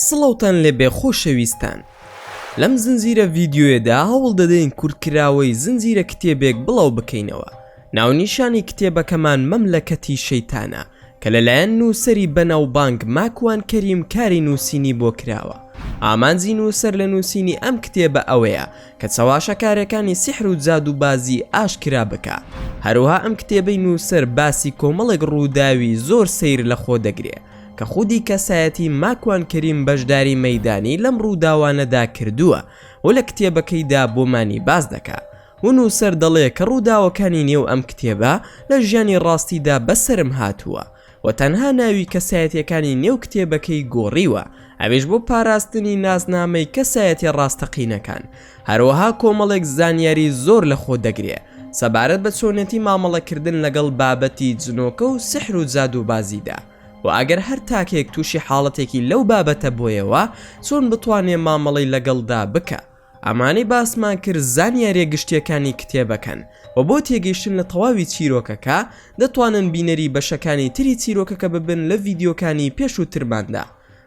سڵاوتان لێبێ خۆشەویستان لەم زنجیرە ڤیدیۆیەدا هەوڵ دەدەین کورتکراوەی زنجیرە کتێبێک بڵاو بکەینەوە ناونیشانی کتێبەکەمان مەملەکەتی شەیتانە کە لەلایەن نووسەری بەناوبانگ ماکوان کەریم کاری نووسینی بۆ کراوە، ئامانجی نووسەر لە نووسینی ئەم کتێبە ئەوەیە کە چەواشەکارێکانی سیحر و جادووبازی ئاشکرا بکا، هەروەها ئەم کتێبەی نووسەر باسی کۆمەڵێک ڕووداوی زۆر سەیر لە خۆ دەگرێ کە خودی کەسایەتی ماکوان کەریم بەشداری مەیدانی لەم ڕووداوانەدا کردووە و لە کتێبەکەیدا بۆمانی باس دەکا و نووسەر دەڵێ کە ڕووداوەکانی نێو ئەم کتێبە لە ژیانی ڕاستیدا بەسەرم هاتووە و تەنها ناوی کەسایەتییەکانی نێو کتێبەکەی گۆڕیوە ئەویش بۆ پاراستنی ناسنامەی کەسایەتیە ڕاستەقینەکان هەروەها کۆمەڵێک زانیاری زۆر لە خۆ دەگرێ سەبارەت بە چۆنێتی مامەڵەکردن لەگەڵ بابەتی جنۆکە و سحر و جادووبازیدا و ئەگەر هەر تاکێک تووشی حاڵەتێکی لەو بابەتە بۆیەوە چۆن بتوانێ مامەڵەی لەگەڵدا بکا. ئەمانەی باسمان کرد زانیاریە گشتیەکانی کتێبەکەن وە بۆ تێگەیشتن لە تەواوی چیرۆکەکە دەتوانن بینەری بەشەکانی تری چیرۆکەکە ببن لە ڤیدیۆکانی پێشووترماندا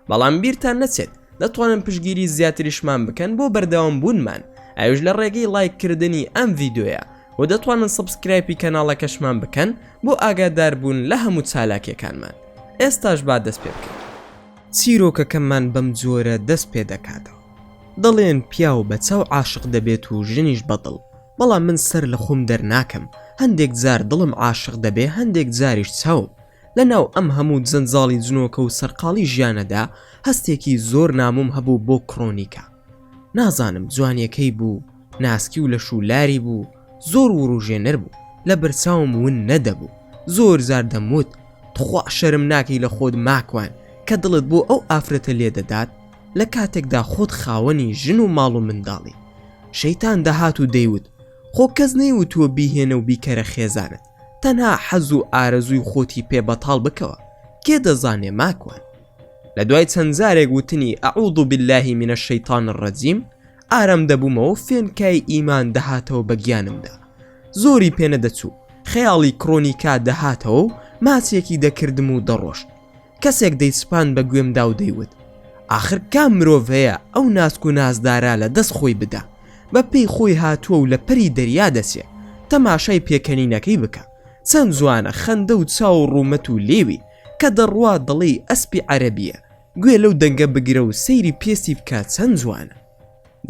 بەڵام بیرتان نەچێت دەتوانن پشگیری زیاتریشمان بکەن بۆ بەردەوام بوونمان ئەوش لە ڕێگەی لایک کردنی ئەم ڤیدۆیە و دەتوانن سبسکرایپی کەناڵەکەشمان بکەن بۆ ئاگاداربوون لە هەموو چالاکیەکانمان ئێستاش با دەست پێ بکەین چیرۆکەکەمان بەم جۆرە دەست پێ دەکاتەوە. دەڵێن پیاو بە چاو عاشق دەبێت و ژنیش بە دڵ بەڵام من سەر لە خۆم دەرناکەم هەندێک جار دڵم عاشق دەبێ هەندێک جاریش چاوم لە ناو ئەم هەموو جەنجاڵی جنۆکە و سەرقاڵی ژیانەدا هەستێکی زۆر نامۆم هەبوو بۆ کڕۆنیکە نازانم جوانیەکەی بوو ناسکی و لەش و لاری بوو زۆر وروژێنەر بوو لە بەرچاوم ون نەدەبوو زۆر جار دەموت تخوا شەرم ناکەی لە خۆت ماکوان کە دڵت بۆ ئەو ئافرەتە لێ دەدات لە کاتێکدا خۆت خاوەنی ژن و ماڵ و منداڵی شەیتان دەهات و دەیوت خۆ کەس نەیوتووە بیهێنە و بیکەرە خێزانت تەنها حەز و ئارەزووی خۆتی پێ بەتاڵ بکەوە کێ دەزانێ ماکوان لە دوای چەند جارێک وتنی ئەعوذ باللە من الشیطان الرجیم ئارام دەبوومەوە فێنکای ئیمان دەهاتەوە بە گیانمدا زۆری پێنەدەچوو خەیاڵی کڕۆنیکا دەهاتەوە و ماچێکی دەکردم و دەڕۆشت کەسێک دەیسپاند بە گوێمدا و دەیوت، ئاخر کام مرۆڤ هەیە ئەو ناسک و نازدارە لە دەست خۆی بدا، بە پێی خۆی هاتووە و لە پەری دەریا دەچێ، تەماشای پێکەنینەکەی بکە، چەند جوانە، خەندە و چاو و ڕوومەت و لێوی، کە دەڕوا دەڵێی ئەسپی عەرەبییە، گوێ لەو دەنگە بگرە و سەیری پێستی بکە چەند جوانە.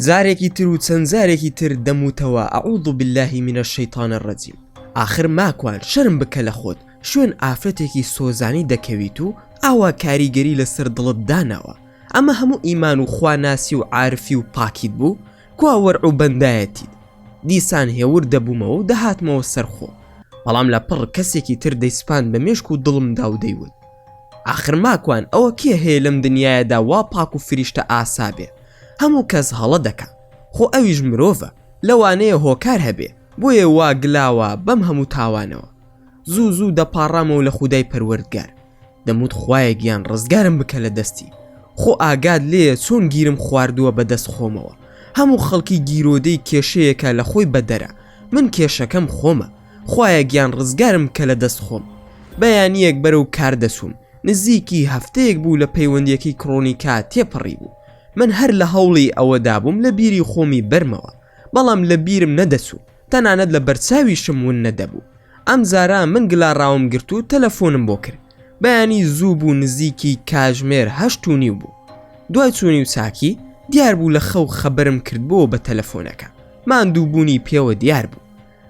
جارێکی تر و چەند جارێکی تر دەموتەوە اعوذ باللە من الشیطان الرجیم ئاخر ماکوان شەرم بکە لە خۆت شوێن ئافرەتێکی سۆزانی دەکەویت و ئاوا کاریگەری لەسەر دڵت داناوە ئەمە هەموو ئیمان و خوا ناسی و عارفی و پاکیت بوو کوا وەرع و بەندایەتیت دیسان هێور دەبوومەوە و دەهاتمەوە سەر خۆم بەڵام لە پڕ کەسێکی تر دەیسپاند بە مێشک و دڵمدا و دەیوت ئاخر ماکوان ئەوە کێ هەیە لەم دنیایەدا وا پاک و فریشتە ئاسا بێ هەموو کەس هەڵە دەکا خۆ ئەویش مرۆڤە لەوانەیە هۆکار هەبێ بۆیە وا گلاوە بەم هەموو تاوانەوە زوو زوو دەپاڕامەوە لە خودای پەروەردگار دەموت خوایە گیان ڕزگارم بکە لە دەستی خۆ ئاگات لێیە چۆن گیرم خواردووە بە دەست خۆمەوە هەموو خەڵکی گیرۆدەی کێشەیەکە لە خۆی بەدەرە من کێشەکەم خۆمە خوایە گیان ڕزگارم بکە لە دەست خۆم بەیانیەک بەرەو کار دەچووم نزیکی هەفتەیەک بوو لە پەیوەندیەکەی کڕۆنیکا تێپەڕی بوو من هەر لە هەوڵی ئەوەدا بووم لە بیری خۆمی بەرمەوە بەڵام لە بیرم نەدەچوو تەنانەت لە بەرچاویشم ون نەدەبوو ئەم جارە من گلاڕاوم گرت و تەلەفۆنم بۆ کرد بەیانی زوو بوو نزیکی کاژمێر هەشت و نیو بوو دوای چوونی و چاکی دیار بوو لە خەو خەبرم کردبووە بە تەلەفۆنەکە ماندووبوونی پێوە دیار بوو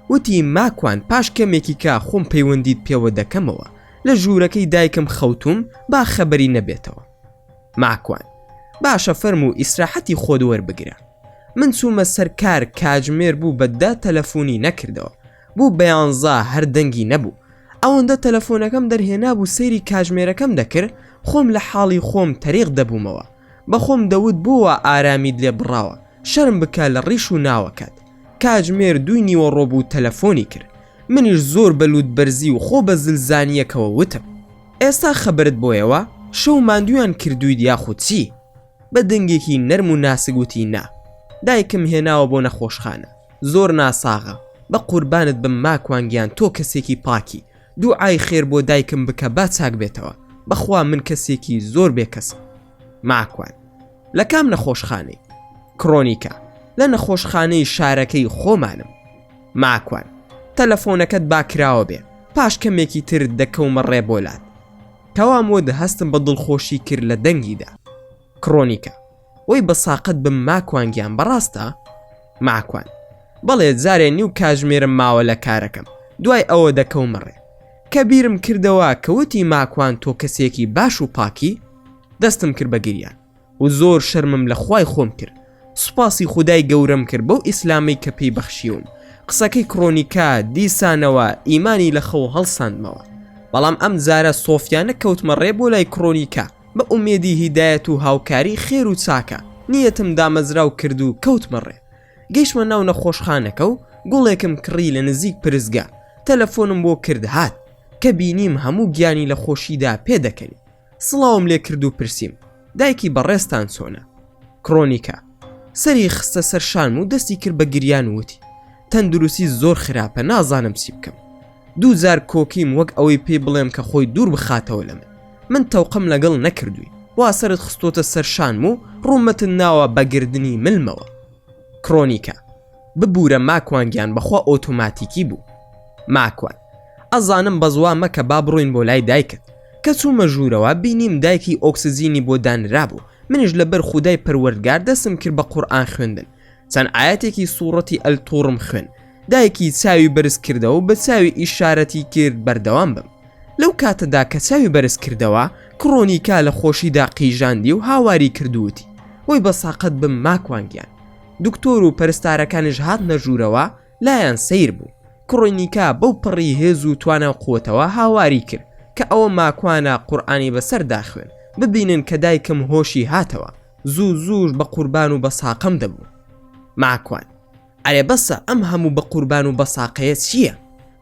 وتی ماکوان پاش کەمێکی کا خۆم پەیوەندیت پێوە دەکەمەوە لە ژوورەکەی دایکم خەوتوم با خەبەری نەبێتەوە ماکوان باشە فەرموو ئیسراحەتی خۆت وەربگرە من چوومە سەر کار کاجمێر بوو بە دە تەلەفونی نەکردەوە بوو بە یانزا هەر دەنگی نەبوو ئەوەندە تەلەفۆنەکەم دەرهێنابوو سەیری کاژمێرەکەم دەکرد خۆم لە حاڵی خۆم تەریق دەبوومەوە بەخۆم دەوت بۆ وا ئارامیت لێ بڕاوە شەرم بکە لە ڕیش و ناوەکەت. کاتژمێر دووی نیوەڕۆ بوو تەلەفۆنی کرد منیش زۆر بە لووتبەرزی و خۆ بە زل زانییەکەوە وتم ئێستا خەبەرت بۆیەوە شەو ماندوویان کردوویت یاخود چی؟ بە دەنگێکی نەرم و ناسک وتی نا دایکم هێناوە بۆ نەخۆشخانە زۆر ناساغە بە قوربانت بم ماکوان گیان تۆ کەسێکی پاکی دوعای خێر بۆ دایکم بکە با چاک بێتەوە بەخوا من کەسێکی زۆر بێ کەسم ماکوان لە کام نەخۆشخانەی کڕۆنیکە لە نەخۆشخانەی شارەکەی خۆمانم ماکوان تەلەفۆنەکەت باکراوە بێ پاش کەمێکی تر دەکەومە ڕێبۆلات کەوام وە دە هەستم بە دڵخۆشی کرد لە دەنگیدا کڕۆنیکە وەی بە ساقەت بم ماکوان گیان بەڕاستە؟ ماکوان، بەڵێ جارێ نیو کاژمێرم ماوە لە کارەکەم دوای ئەوە دەکەومە ڕێ کە بیرم کردەوە کە وتی ماکوان تۆ کەسێکی باش و پاکی؟ دەستم کرد بە گریان و زۆر شەرمم لە خوای خۆم کرد سوپاسی خودای گەورەم کرد بەو ئیسلامەی کە پێی بەخشیوم قسەکەی کڕۆنیکا دیسانەوە ئیمانی لە خەو هەڵساندمەوە بەڵام ئەم جارە سۆفیانە کەوتمە ڕێ بۆ لای کڕۆنیکا بە ئومێدی هیدایەت و هاوکاری خێر و چاکە نیەتم دامەزراو کرد و کەوتمە ڕێ گەیشتمە ناو نەخۆشخانەکە و گوڵێکم کڕی لە نزیک پرسگە تەلەفۆنم بۆ کرد هات کە بینیم هەموو گیانی لە خۆشیدا پێدەکەنی سڵاوم لێ کرد و پرسیم دایکی بەڕێزتان چۆنە کرۆنیکە سەری خستە سەر شانم و دەستی کرد بە گریان وتی تەندروستی زۆر خراپە نازانم چی بکەم دوو جار کۆکیم وەک ئەوەی پێی بڵێم کە خۆی دوور بخاتەوە لە من من تەوقەم لەگەڵ نەکردووی وا سەرت خستۆتە سەر شانم و ڕوومەتت ناوە بە گردنی ملمەوە کرۆنیکە ببورە ماکوان گیان بەخوا ئۆتۆماتیکی بوو ماکوان ئەزانم بەزوا مەکە با بڕۆین بۆ لای دایکت کە چوومە ژوورەوە بینیم دایکی ئۆکسزیینی بۆ دانرابوو منیش لەبەر خودای پەروەردگار دەسم کرد بە قورئان خوێندن چەند ئاەتێکی سوڕەتی ئەل تووڕم خوێن دایکی چاوی بەرز کردەوە بە چاوی ئیشارەتی کرد بەردەوام بم لەو کاتەدا کە چاوی بەرز کردەوە کڕۆنیکا لە خۆشیدا قیژاندی و هاواری کردووتی وەی بە ساقەت بم ماکوانگیان دکتۆر و پەرستارەکانیش هات نەژوورەوە لایەن سیر بوو کڕۆنیکا بەو پڕی هێز و توانە و قوتەوە هاواری کرد کە ئەوە ماکوانە قورآانی بەسەر داخوێن ببینن کە دایکم هۆشی هاتەوە زوو زووش بە قوربان و بە ساقەم دەبوو ماکوان ئەرێ بەسە ئەم هەموو بە قوربان و بە ساقەیە چییە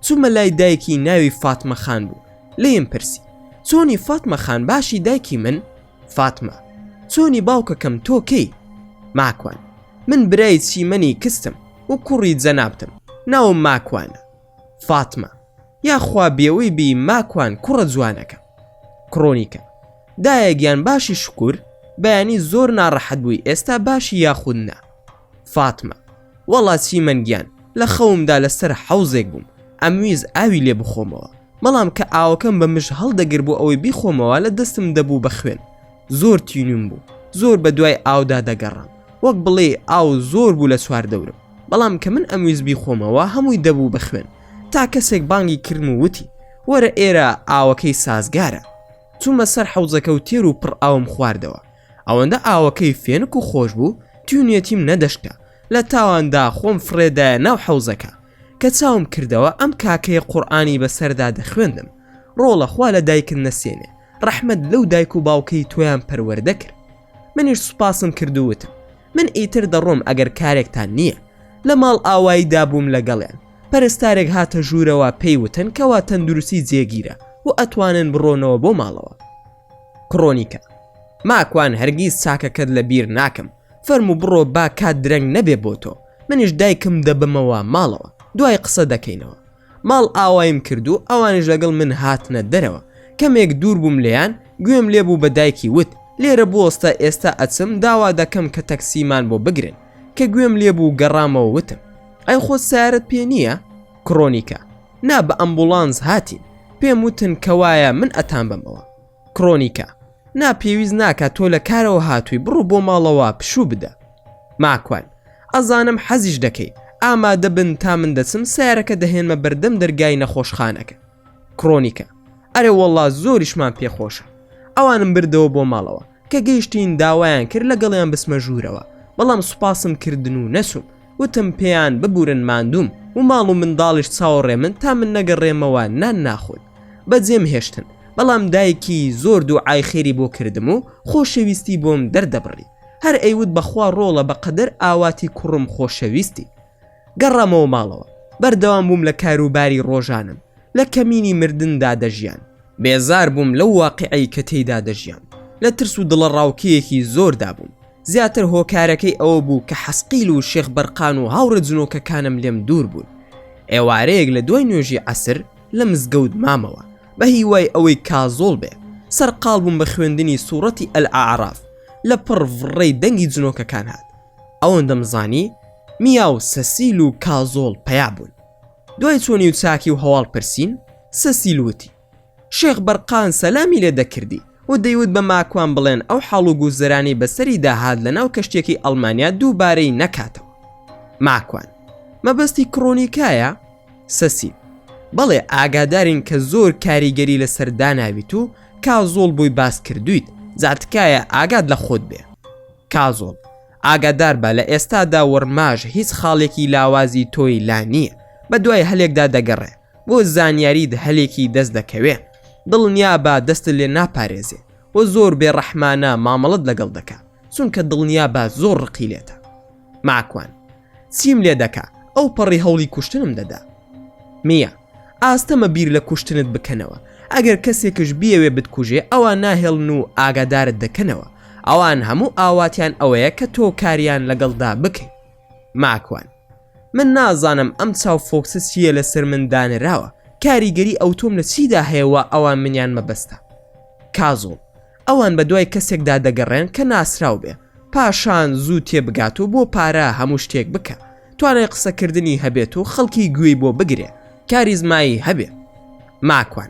چوومە لای دایکی ناوی فاتمە خان بوو لێم پرسی چۆنی فاتمە خان باشی دایکی من فاتمە چۆنی باوکەکەم تۆکەی ماکوان من برای چیمەنی کستم و کوڕی جەنابتم ناوم ماکوانە فاتمە یاخوا بێوەی بی ماکوان کوڕە جوانەکە کڕۆنیکە دایە گیان باشی شکور بەیانی زۆر ناڕەحەت بووی ئێستا باشی یاخود نا فاتمە وەڵا چی من گیان لە خەومدا لەسەر حەوزێک بووم ئەمویز ئاوی لێ بخۆمەوە بەڵام کە ئاوەکەم بە مژ هەڵدەگر بۆ ئەوەی بیخۆمەوە لە دەستم دەبوو بە خوێن زۆر تینوم بوو زۆر بە دوای ئاودا دەگەڕام وەک بڵێ ئاو زۆر بوو لە چوار دەورم بەڵام کە من ئەمویست بیخۆمەوە هەمووی دەبوو بە خوێن تا کەسێک بانگی کرم و وتی وەرە ئێرە ئاوەکەی سازگارە چوومە سەر حەوزەکە و تێر و پڕ ئاوم خواردەوە ئەوەندە ئاوەکەی فێنک و خۆش بوو تیونێتیم نەدەشتا لە تاواندا خۆم فڕێدایە ناو حەوزەکە کە چاوم کردەوە ئەم کاکەیە قورئانی بەسەردا دەخوێندم ڕۆڵە خوا لە دایکت نەسێنێ ڕەحمەت لەو دایک و باوکەی تۆیان پەروەردە کرد منیش سوپاسم کرد و وتم من ئیتر دەڕۆم ئەگەر کارێکتان نییە لە ماڵ ئاوایی دابووم لەگەڵیان پەرستارێک هاتە ژوورەوە پێی وتن کەوا تەندروستی جێگیرە و ئەتوانن بڕۆنەوە بۆ ماڵەوە کڕۆنیکە ماکوان هەرگیز چاکەکەت لە بیر ناکەم فەرموو بڕۆ با کات درەنگ نەبێ بۆ تۆ منیش دایکم دەبەمەوە ماڵەوە دوای قسە دەکەینەوە ماڵ ئاوایم کرد و ئەوانیش لەگەڵ من هاتنە دەرەوە کەمێک دوور بووم لێیان گوێم لێ بوو بە دایکی وت لێرە بوەستە ئێستا ئەچم داوا دەکەم کە تەکسیمان بۆ بگرن کە گوێم لێ بوو گەڕامەوە وتم ئەی خۆت سارت پێ نییە کڕۆنیکە نا بە ئەمبوڵانس هاتین پێم وتن کەوایە من ئەتان بەمەوە کڕۆنیکە، نا پێویست ناکات تۆ لە کارەوە هاتووی بڕۆ بۆ ماڵەوە پشوو بدە. ماکوان، ئەزانم حەزیش دەکەی، ئامادە بن تا من دەچم سەیارەکە دەهێنمە بەردەم دەرگای نەخۆشخانەکە. کڕۆنیکە، ئەرێ وەڵڵا زۆریشمان پێ خۆشە. ئەوانم بردەوە بۆ ماڵەوە، کە گەیشتین داوایان کرد لەگەڵیان بچمە ژوورەوە، بەڵام سوپاسم کردن و نەچووم. وتم پێیان ببورن ماندووم و ماڵ و منداڵیش چاوەڕێ من تا من نەگەڕێمەوە نان ناخۆن بە جێم هێشتن بەڵام دایکی زۆر دوعای خێری بۆ کردم و خۆشەویستی بۆم دەردەبڕی هەر ئەیوت بەخوا ڕۆڵە بەقەدەر ئاواتی کوڕم خۆشەویستی گەڕامەوە ماڵەوە بەردەوام بووم لە کاروباری ڕۆژانم لە کەمینی مردندا دەژیان بێزار بووم لەو واقعی کە تێیدا دەژیان لە ترس و دڵەڕاوکێیەکی زۆردا بووم زیاتر هۆکارەکەی ئەوە بوو کە حەسقیل و شێخ بەرقان و هاوڕێ جنۆکەکانم لێم دوور بوون ئێوارەیەک لە دوای نوێژی عەسر لە مزگەوت مامەوە بە هیوای ئەوەی کازۆڵ بێ سەرقاڵ بووم بە خوێندنی سوڕەتی ئەلعاراف لە پڕ ڕێی دەنگی جنۆکەکان هات ئەوەن دەمزانی میا و سەسیل و کازۆڵ پیا بوون دوای چۆنی و چاکی و هەواڵ پرسین سەسیل وتی شێخ بەرقان سەلامی لێ دەکردی و دەیوت بە ماکوان بڵێن ئەو حاڵ و گوزەرانی بەسەری داهات لە ناو کەشتیەکەی ئەڵمانیا دووبارەی نەکاتەوە. ماکوان، مەبەستی کڕۆنیکایە؟ سەسیل، بەڵێ ئاگادارین کە زۆر کاریگەری لەسەر داناویت و کازۆڵ بۆی باس کردوویت، جا تکایە ئاگات لە خۆت بێ. کازۆڵ، ئاگادار بە لە ئێستادا وەڕماژ هیچ خاڵێکی لاوازی تۆی لا نییە، بەدوای هەلێکدا دەگەڕێ، بۆ زانیاریت هەلێکی دەست دەکەوێ دڵنیابە دەستت لێ ناپارێزێ و زۆر بێ ڕەحمانە مامەڵەت لەگەڵ دەکا چونکە دڵنیابە زۆر ڕقی لێتە ماکوان چیم لێ دەکا ئەو پەڕی هەوڵی کوشتنم دەدا میە ئاستەمە بیر لە کوشتنت بکەنەوە ئەگەر کەسێکش بیەوێ بتکوژێ ئەوە ناهێڵن و ئاگادارت دەکەنەوە ئەوان هەموو ئاواتیان ئەوەیە کە تۆ کاریان لەگەڵدا بکەیت ماکوان من نازانم ئەم چاو فۆکسە چییە لەسەر من دانراوە کاریگەری ئەوتۆم لە چیدا هەیەوە ئەوان منیان مەبەستە کازۆڵ ئەوان بە دوای کەسێکدا دەگەڕێن کە ناسراو بێ پاشان زوو تێبگات و بۆ پارە هەموو شتێک بکە توانای قسەکردنی هەبێت و خەڵکی گوێی بۆ بگرێ کاریزمایی هەبێ ماکوان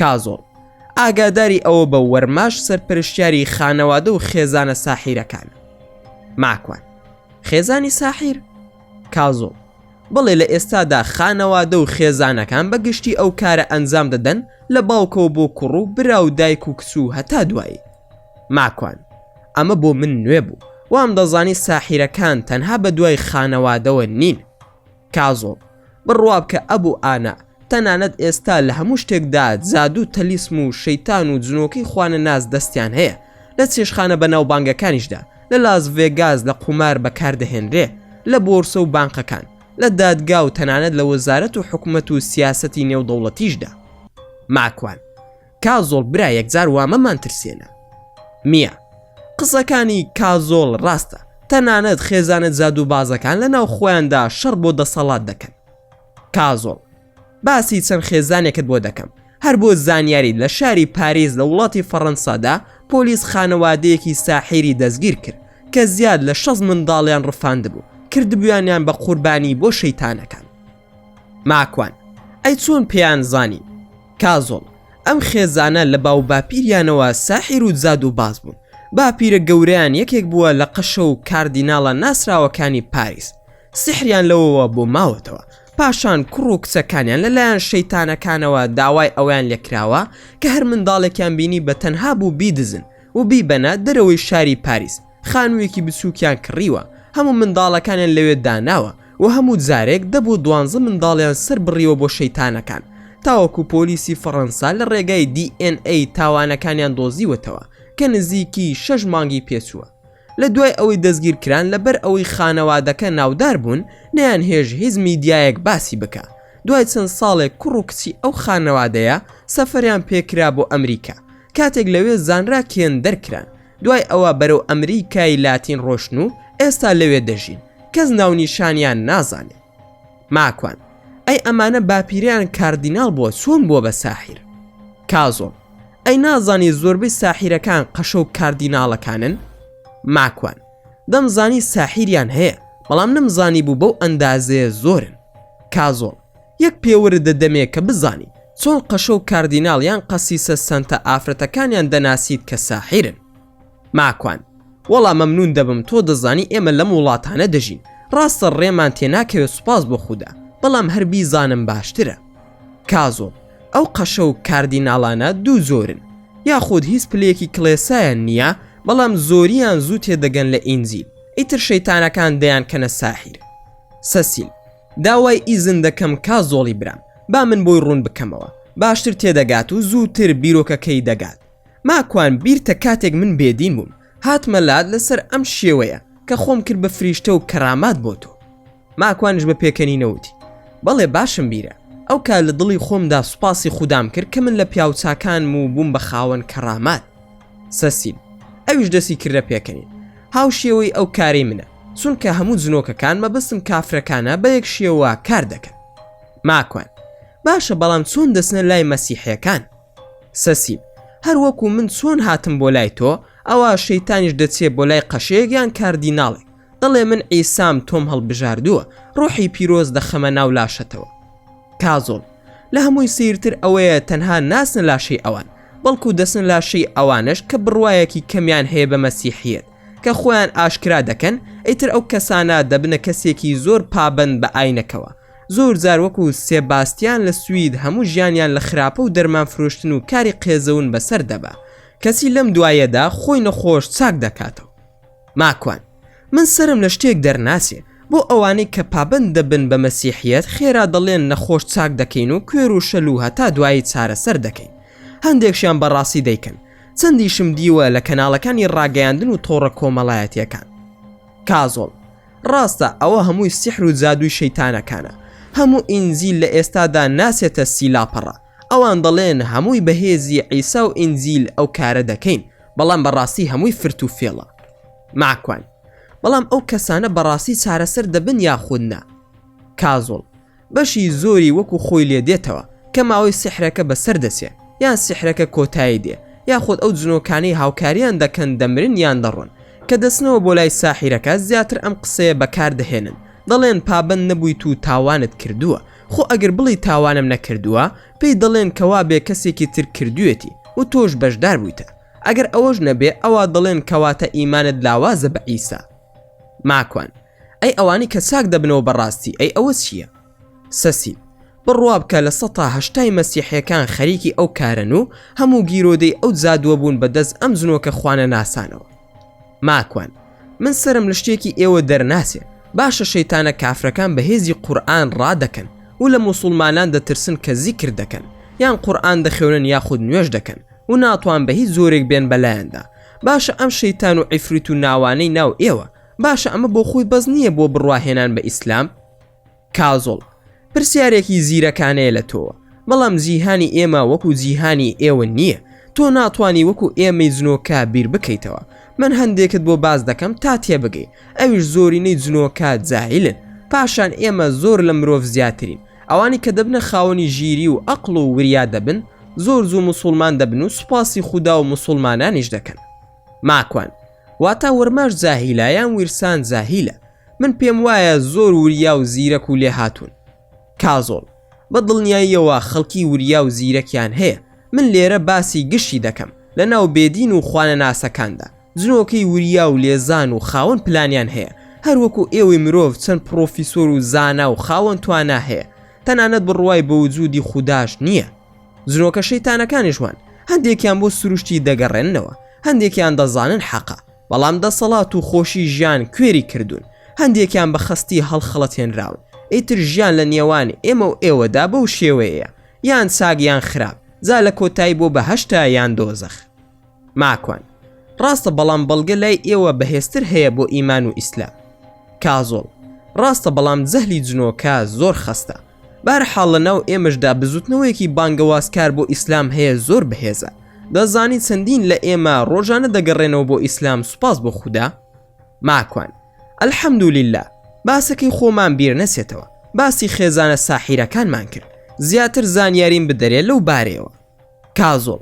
کازۆڵ ئاگاداری ئەوە بە وەرماش سەرپەرشتیاری خانەوادە و خێزانە ساحیرەکانە ماکوان خێزانی ساحیر کازۆڵ بەڵێ لە ئێستادا خانەوادە و خێزانەکان بە گشتی ئەو کارە ئەنجام دەدەن لە باوکەوە بۆ کوڕ و برا و دایک و کچ و هەتا دوایی ماکوان ئەمە بۆ من نوێ بوو وام دەزانی ساحیرەکان تەنها بە دوای خانەوادەوە نین کازۆ، بڕوابکە ئەبو ئانا، تەنانەت ئێستا لە هەموو شتێکدا جادوو تەلیسم و شەیتان و جنۆکەی خوانەناس دەستیان هەیە، لە چێشخانە بەناوبانگەکانیشدا، لە لاس ڤێگاس لە قومار بەکاردەهێنرێ، لە بۆرسە و بانقەکان، لە دادگا و تەنانەت لە وەزارەت و حکومەت و سیاسەتی نێودەوڵەتیشدا. ماکوان. کازۆڵ برا یەکجار وامەمان ترسێنە میا قسەکانی کازۆڵ ڕاستە تەنانەت خێزانە زادو بازەکان لە ناو خۆیاندا شەڕ بۆ دەسەڵات دەکەن کازۆڵ باسی چەند خێزانێکت بۆ دەکەم هەر بۆ زانیاری لە شاری پاریس لە وڵاتی فەڕەنسادا پۆلیس خانەوادەیەکی ساحێری دەستگیر کرد کە زیاد لە شەست منداڵیان ڕفاند بوو کردبوویانیان بە قوربانی بۆ شەیتانەکان ماکوان، ئەی چۆن پێیان زانی؟ کازۆڵ، ئەم خێزانە لە باو باپیریانەوە ساحیر و جادوو باز بوون، باپیرە گەورەیان یەکێک بووە لە قەشە و کاردیناڵە ناسراوەکانی پاریس، سیحریان لەوەوە بۆ ماوەتەوە، پاشان کوڕ و کچەکانیان لە لایەن شەیتانەکانەوە داوای ئەوەیان لێ کراوە کە هەر منداڵێکیان بینی بە تەنها بوو بیدزن و بیبەنە دەرەوەی شاری پاریس، خانوویەکی بچووکیان کڕیوە هەموو منداڵەکانیان لەوێ داناوە و هەموو جارێک دە بۆ دوانزە منداڵیان سەر بڕیوە بۆ شەیتانەکان تاوەکو پۆلیسی فەڕەنسا لە ڕێگای DNA تاوانەکانیان دۆزیوەتەوە کە نزیکی شەش مانگی پێچووە لە دوای ئەوەی دەستگیر کران لەبەر ئەوەی خانەوادەکە ناودار بوون نەیان هێژ هیچ میدیایەک باسی بکە دوای چەند ساڵێک کوڕ و کچی ئەو خانەوادەیە سەفەریان پێکرا بۆ ئەمریکا کاتێک لەوێ زانرا کێن دەرکران دوای ئەوە بەرەو ئەمریکای لاتین ڕۆشتن و ئێستا لەوێ دەژین کەس ناونیشانیان نازانێ ماکوان ئەی ئەمانە باپیریان کاردیناڵ بووە چۆن بووە بە ساحیر کازۆڵ ئەی نازانی زۆربەی ساحیرەکان قەشە و کاردیناڵەکانن ماکوان دەمزانی ساحیریان هەیە بەڵام نەمزانی بوو بەو ئەندازەیە زۆرن کازۆڵ یەک پێ وردە دەمێ کە بزانی چۆن قەشە و کاردیناڵ یان قەسیسە سەنتە ئافرەتەکانیان دەناسیت کە ساحیرن. ماکوان، وەڵا مەمنوون دەبم تۆ دەزانی ئێمە لەم وڵاتانە دەژین ڕاستە ڕێمان تێ ناکەوێ سوپاس بۆ خودا بەڵام هەر بیزانم باشترە. کازۆ، ئەو قەشە و کاردیناڵانە دوو جۆرن یاخود هیچ پلەیەکی کڵێسایان نییە بەڵام زۆریان زوو تێ دەگەن لە ئینجیل ئیتر شەیتانەکان دەیانکەنە ساحیر. سەسیل. داوای ئیزن دەکەم کا زۆڵی برام با من بۆی ڕوون بکەمەوە باشتر تێدەگات و زووتر بیرۆکەکەی دەگات ماکوان بیرتە کاتێک من بێدین بووم هاتمە لات لەسەر ئەم شێوەیە کە خۆم کرد بە فریشتە و کەرامات بۆ تۆ ماکوانش بە پێکەنی نەوتی بەڵێ باشم بیرە ئەو کار لە دڵی خۆمدا سوپاسی خودام کرد کە من لە پیاوچکانم و بووم بە خاوەن کەرامات سەسیل ئەویش دەسی کردە پێکەنین هاو شێوەی ئەو کارەی منە چونکە هەموو جنۆکەکان مەبەستم کافرەکانە بە یەک شێوە کار دەکەن ماکوان باشە بەڵام چۆن دەچنە لای مەسیحەکان سەسیم هەروەکو من چۆن هاتم بۆ لای تۆ ئەوە شەیتانیش دەچێت بۆ لای قەشەیەکیان کاردیناڵێک دەڵێ من ئیسام تۆم هەڵبژاردووە ڕۆحی پیرۆز دەخەمە ناو لاشەتەوە کازۆڵ لە هەمووی سیرتر ئەوەیە تەنها ناسنە لاشەی ئەوان بەڵکو دەسن لاشەی ئەوانش کە بڕواایەکی کەمیان هەیە بە مەسیحیت کە خۆیان ئاشکرا دەکەن ئیتر ئەو کەسانە دەبنە کەسێکی زۆر پابەند بە ئاینەکەوە زۆر جار وەکو سێباستیان لە سوید هەموو ژیانیان لە خراپە و دەرمان فرۆشتن و کاری قێزەون بەسەر دەبا کەچی لەم دوایەدا خۆی نەخۆش چاک دەکاتەوە ماکوان من سرم لە شتێک دەرناچێ بۆ ئەوانەی کە پابەند دەبن بە مەسیحیەت خێرا دەڵێن نەخۆش چاک دەکەین و کوێر و شەل و هەتا دوایی چارەسەر دەکەین هەندێکشیان بەڕاستی دەیکەن چەندیشم دیوە لە کەناڵەکانی ڕاگەیاندن و تۆڕە کۆمەڵایەتیەکان کازۆڵ ڕاستە ئەوە هەمووی سیحر و جادووی شەیتانەکانە هەموو ئینجیل لە ئێستادا ناسێتە سی لاپەڕە ئەوان دەڵێن هەمووی بەهێزی عیسا و ئینجیل ئەو کارە دەکەین بەڵام بەڕاستی هەمووی فرت و فێڵە ماکوان بەڵام ئەو کەسانە بەڕاستی چارەسەر دەبن یاخود نا کازۆڵ بەشی زۆری وەکو خۆی لێ دێتەوە کە ماوەی سیحرەکە بەسەر دەچێ یان سیحرەکە کۆتایی دێ یاخود ئەو جنۆکانەی هاوکاریان دەکەن دەمرن یان دەڕۆن کە دەچنەوە بۆ لای ساحیرەکە زیاتر ئەم قسەیە بەکار دەهێنن دەڵێن پابەند نەبوویت و تاوانت کردووە خۆ ئەگەر بڵێی تاوانم نەکردووە پێی دەڵێن کە وابێ کەسێکی تر کردوویەتی و تۆش بەشدار بوویتە ئەگەر ئەوەش نەبێ ئەوا دەڵێن کەواتە ئیمانت لاوازە بە عیسا ماکوان، ئەی ئەوانی کە چاک دەبنەوە بە ڕاستی ئەی ئەوە چییە؟ سەسیل، بڕوا بکە لە سەتا هەشتای مەسیحیەکان خەریکی ئەو کارەن و هەموو گیرۆدەی ئەو جادووە بوون بە دەست ئەم جنۆکە خوانەناسانەوە. ماکوان، من سەرم لە شتێکی ئێوە دەرناچێ، باشە شەیتانە کافرەکان بە هێزی قورئان ڕادەکەن و لە موسوڵمانان دەترسن کە زیکر دەکەن یان قورئان دەخوێنن یاخود نوێژ دەکەن و ناتوان بە هیچ جۆرێک بێن بە لایاندا باشە ئەم شەیتان و عیفریت و ناوانەی ناو ئێوە باشە ئەمە بۆ خۆی بەس نییە بۆ بڕوا هێنان بە ئیسلام؟ کازۆڵ، پرسیارێکی زیرەکانەیە لە تۆوە، بەڵام جیهانی ئێمە وەکو جیهانی ئێوە نییە، تۆ ناتوانی وەکو ئێمەی جنۆکە بیر بکەیتەوە، من هەندێکت بۆ باس دەکەم تا تێبگەی، ئەویش زۆرینەی جنۆکە جاهیلن، پاشان ئێمە زۆر لە مرۆڤ زیاترین، ئەوانی کە دەبنە خاوەنی ژیری و ئەقڵ و وریا دەبن زۆر زوو موسوڵمان دەبن و سوپاسی خودا و موسوڵمانانیش دەکەن ماکوان، واتا ورماش جاهیلە یان ویرسان جاهیلە من پێم وایە زۆر وریا و زیرەک و لێهاتوون. کازۆڵ، بە دڵنیاییەوە خەڵکی وریا و زیرەکیان هەیە من لێرە باسی گشتی دەکەم لەناو بێدین و خوانەناسەکاندا، جنۆکەی وریا و لێزان و خاوەن پلانیان هەیە، هەر وەکو ئێوەی مرۆڤ چەند پڕۆفیسۆر و زانا و خاوەن توانا هەیە، تەنانەت بڕوای بە وجودی خوداش نییە. جنۆکە شەیتانەکانیش وان، هەندێکیان بۆ سروشتی دەگەڕێننەوە، هەندێکیان دەزانن حەقە، بەڵام دەسەڵات و خۆشی ژیان کوێری کردوون، هەندێکیان بە خەستی هەڵخەڵەتێنراون، ئیتر ژیان لە نێوان ئێمە و ئێوەدا بەو شێوەیەیە، یان چاک یان خراپ، جا لە کۆتایی بۆ بەهەشتە یان دۆزەخ. ماکوان، ڕاستە بەڵام بەڵگە لای ئێوە بەهێزتر هەیە بۆ ئیمان و ئیسلام. کازۆڵ، ڕاستە بەڵام جەهلی جنۆکە زۆر خەستە. بەهەرحاڵ لەناو ئێمەشدا بزوتنەوەیەکی بانگەوازکار بۆ ئیسلام هەیە زۆر بەهێزە. دەزانی چەندین لە ئێمە ڕۆژانە دەگەڕێنەوە بۆ ئیسلام سوپاس بۆ خودا؟ ماکوان، الحمدللە باسەکەی خۆمان بیر نەچێتەوە. باسی خێزانە ساحیرەکانمان کرد. زیاتر زانیاریم بدەرێ لەو بارەیەوە. کازۆڵ،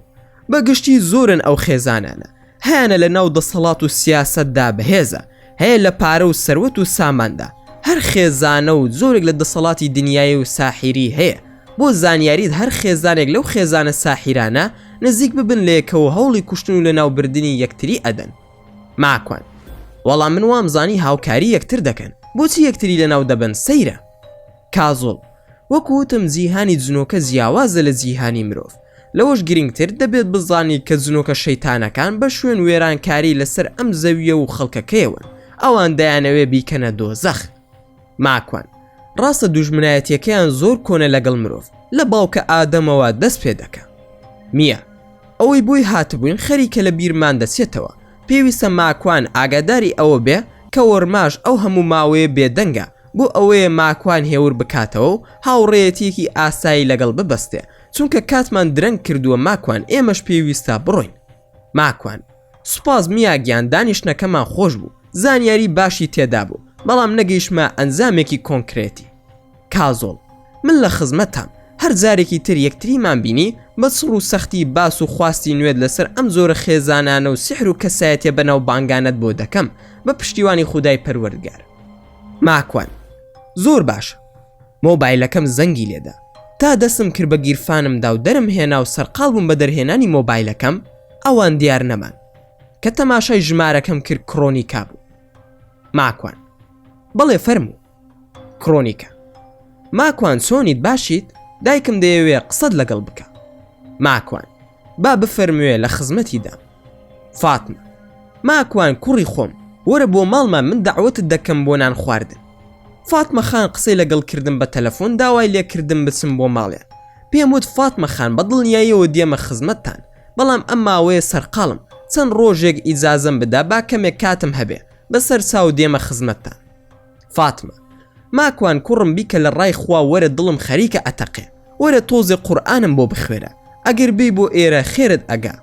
بە گشتی زۆرن ئەو خێزانانە، هەیانە لە ناو دەسەڵات و سیاسەتدا بەهێزە، هەیە لە پارە و سەروەت و ساماندا، هەر خێزانە و جۆرێک لە دەسەڵاتی دنیایی و ساحیری هەیە، بۆ زانیاریت هەر خێزانێک لەو خێزانە ساحیرانە نزیک ببن لە یەکەوە هەوڵی کوشتن و لەناوبردنی یەکتری ئەدەن. ماکوان، وەڵا من وامزانی هاوکاری یەکتر دەکەن، بۆچی یەکتری لەناو دەبەن سەیرە. کازۆڵ، وەکو وتم جیهانی جنۆکە جیاوازە لە جیهانی مرۆڤ، لەوەش گرنگتر دەبێت بزانیت کە جنۆکە شەیتانەکان بە شوێن وێرانکاری لەسەر ئەم زەوییە و خەڵکەکەیەوەن، ئەوان دەیانەوێت بیکەنە دۆزەخ. ماکوان، ڕاستە دوژمنایەتییەکەیان زۆر کۆنە لەگەڵ مرۆڤ، لە باوکە ئادەمەوە دەست پێدەکا. میا، ئەوەی بۆی هاتبووین خەریکە لە بیرمان دەچێتەوە، پێویستە ماکوان ئاگاداری ئەوە بێ کە وەرماش ئەو هەموو ماوەیە بێدەنگە، بۆ ئەوەیە ماکوان هێور بکاتەوە و هاوڕێیەتییەکی ئاسایی لەگەڵ ببەستێ، چونکە کاتمان درەنگ کردووە ماکوان ئێمەش پێویستە بڕۆین. ماکوان، سوپاس میا گیان دانیشتنەکەمان خۆش بوو، زانیاری باشی تێدا بوو، بەڵام نەگەیشتمە ئەنجامێکی کۆنکرێتی. کازۆڵ، من لە خزمەتتام، هەر جارێکی تر یەکتریمان بینی بە چڕ و سەختی باس و خواستی نوێت لەسەر ئەم جۆرە خێزانانە و سیحر و کەسایەتییە بەناوبانگانەت بۆ دەکەم، بە پشتیوانی خودای پەروەردگار. ماکوان، زۆر باشە. مۆبایلەکەم زەنگی لێدا. تا دەستم کرد بە گیرفانم دا و دەرم هێنا و سەرقاڵ بووم بە دەرهێنانی مۆبایلەکەم، ئەوان دیار نەمان. کە تەماشای ژمارەکەم کرد کڕۆنیکا بوو. ماکوان، بەڵێ فەرموو. کڕۆنیکا، ماکوان چۆنیت باشیت؟ دایکم دەیەوێ قسەت لەگەڵ بکا. ماکوان. با بفەرموێ لە خزمەتی دام فاتمە ماکوان کوڕی خۆم وەرە بۆ ماڵمان من داوەتت دەکەم بۆ نان خواردن فاتمە خان قسەی لەگەڵ کردم بە تەلەفۆن داوای لێکردم بچم بۆ ماڵێ پێم وت فاتمە خان بە دڵنیاییەوە دێمە خزمەتتان بەڵام ئەم ماوەیە سەرقاڵم چەند ڕۆژێک ئیجازم بدا با کەمێک کاتم هەبێ بەسەر چاو دێمە خزمەتتان فاتمە. ماکوان کوڕم بیکە لە ڕای خوا وەرە دڵم خەریکە ئەتەقێ وەرە تۆزێ قورئانم بۆ بخوێنە ئەگەر بێی بۆ ئێرە خێرت ئەگا.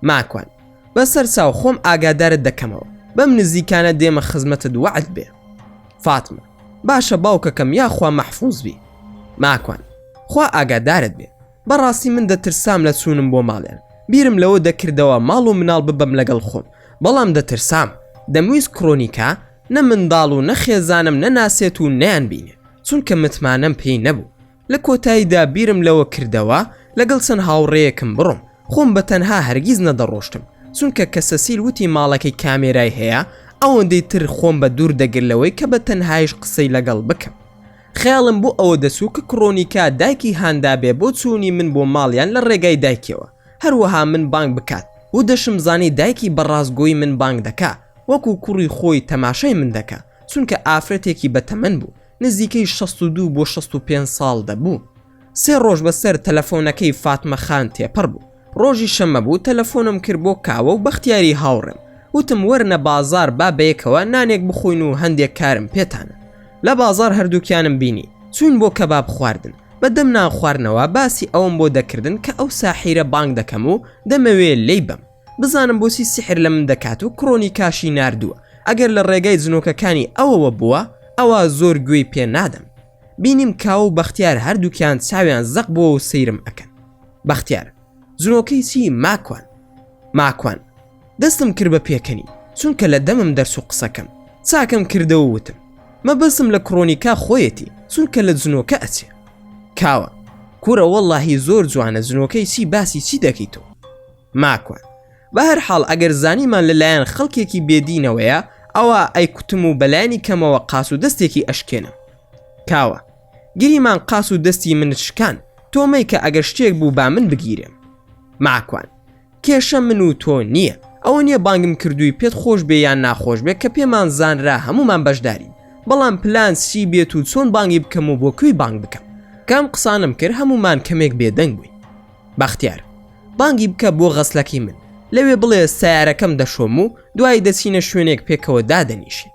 ماکوان. بە سەرچاو خۆم ئاگادارت دەکەمەوە بەم نزیکانە دێمە خزمەتت وەعد بێ. فاتمە. باشە باوکەکەم یاخوا مەحفوز بی. ماکوان. خوا ئاگادارت بێ بەڕاستی من دەترسام لە چوونم بۆ ماڵێان بیرم لەوە دەکردەوە ماڵ و مناڵ ببەم لەگەڵ خۆم بەڵام دەترسام دەمویست کڕۆنیکا نە منداڵ و نە خێزانم نەناسێت و نەیانبینێ چونکە متمانەم پێی نەبوو لە کۆتاییدا بیرم لەوە کردەوە لەگەڵ چەند هاوڕێیەکم بڕۆم خۆم بە تەنها هەرگیز نەدەڕۆشتم چونکە کە سەسیل وتی ماڵەکەی کامێرای هەیە ئەوەندەی تر خۆم بە دوور دەگر لەوەی کە بە تەنهایش قسەی لەگەڵ بکەم خەیاڵم بۆ ئەوە دەچوو کە کڕۆنیکا دایکی هاندا بێ بۆ چوونی من بۆ ماڵیان لە ڕێگای دایکیەوە هەروەها من بانگ بکات و دەشم زانی دایکی بە ڕاستگۆی من بانگ دەکا وەکو کوڕی خۆی تەماشای من دەکا چونکە ئافرەتێکی بە تەمەن بوو نزیکەی شەست و دوو بۆ شەست و پێنج ساڵ دەبوو سێ ڕۆژ بە سەر تەلەفۆنەکەی فاتمە خان تێپەڕ بوو ڕۆژی شەمە بوو تەلەفۆنم کرد بۆ کاوە و بەختیاری هاوڕێم وتم وەرنە بازاڕ با بەیەکەوە نانێک بخۆین و هەندێک کارم پێتانە لە بازاڕ هەردووکیانم بینی چووین بۆ کەباب خواردن بە دەم نان خواردنەوە باسی ئەوەم بۆ دەکردن کە ئەو ساحیرە بانگ دەکەم و دەمەوێ لێی بەم بزانم بۆچی سیحر لە من دەکات و کڕۆنیکاشی ناردووە ئەگەر لە ڕێگای جنۆکەکانی ئەوەوە بووە ئەوا زۆر گوێی پێ نادەم بینیم کاوە و بەختیار هەردووکیان چاویان زەق بووە و سەیرم ئەکەن بەختیار زرۆکەی چی ماکوان ماکوان دەستم کرد بە پێکەنی چونکە لە دەمم دەرس و قسەکەم چاکەم کردەوە وتم مەبەسم لە کڕۆنیکا خۆیەتی چونکە لە جنۆکە ئەچێ کاوە کورە وەڵاهی زۆر جوانە جنۆکەی چی باسی چی دەکەیت تۆ ماکوان بە هەر حاڵ ئەگەر زانیمان لەلایەن خەڵکێکی بێدینەوەیە ئەوە ئەی کوتم و بەلایانی کەمەوە قاس و دەستێکی ئەشکێنم کاوە گریمان قاس و دەستی منت شکان تۆ مەیکە ئەگەر شتێک بوو با من بگیرێم ماکوان کێشە من و تۆ نییە ئەوە نییە بانگم کردووی پێت خۆش بێ یان ناخۆش بێ کە پێمان زانرا هەمومان بەشدارین بەڵام پلان چی بێت و چۆن بانگی بکەم و بۆ کوی بانگ بکەم کام قسانم کرد هەمومان کەمێک بێدەنگ بووی بەختیار بانگی بکە بۆ غەسلەکەی من لەوێ بڵێ سیارەکەم دەشۆم و دوایی دەچینە شوێنێک پێکەوە دادەنیشین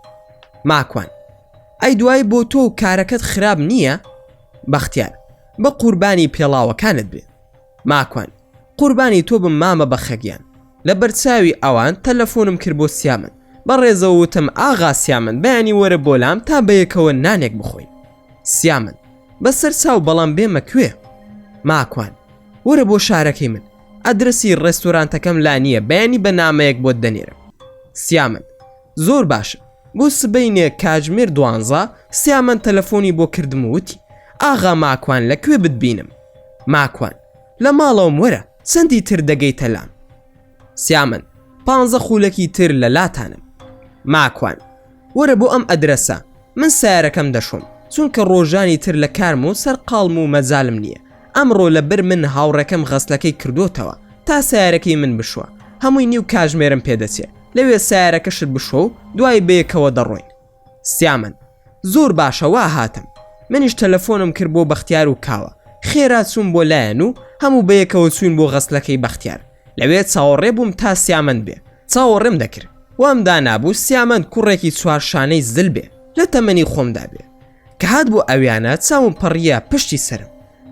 ماکوان ئەی دوای بۆ تۆ و کارەکەت خراپ نییە؟ بەختیار، بە قوربانی پێڵاوەکانت بێ. ماکوان، قوربانی تۆ بم مامە بەخەگیان. لە بەرچاوی ئەوان تەلەفۆنم کرد بۆ سیامەند، بە ڕێزەوە وتم ئاغا سیامەند بەیانی وەرە بۆ لام تا بەیەکەوە نانێک بخۆین. سیامەند، بە سەر چاو بەڵام بێمە کوێ؟ ماکوان، وەرە بۆ شارەکەی من. ئەدرەسی ڕێستۆرانتەکەم لا نییە بەیانی بە نامەیەک بۆت دەنێرم. سیامەند، زۆر باشە بۆ سبەینێ کاژمێر دوانزە سیامەند تەلەفۆنی بۆ کردم و وتی ئاغا ماکوان لە کوێ بتبینم ماکوان لە ماڵەوەم وەرە چەندی تر دەگەیتە لام سیامەند پانزە خولەکی تر لە لاتانم ماکوان وەرە بۆ ئەم ئەدرەسە من سەیارەکەم دەشۆم چونکە ڕۆژانی تر لە کارم و سەرقاڵم و مەجالم نییە، ئەمڕۆ لە بر من هاوڕێکەم غەسلەکەی کردۆتەوە تا سەیارەکەی من بشوە هەمووی نیو کاژمێرم پێ دەچێ لەوێ سەیارەکەشت بشۆ و دوای بەیەکەوە دەڕۆین. سیامەند، زۆر باشە وا هاتم. منیش تەلەفۆنم کرد بۆ بەختیار و کاوە خێرا چووم بۆ لایان و هەموو بەیەکەوە چووین بۆ غەسلەکەی بەختیار لەوێ چاوەڕێ بووم تا سیامەند بێ چاوەڕێم دەکرد وام دانابوو سیامەند کوڕێکی چوار شانەی زل بێ لە تەمەنی خۆمدا بێ کە هات بۆ ئەویانە چاوم پەڕیە پشتی سرم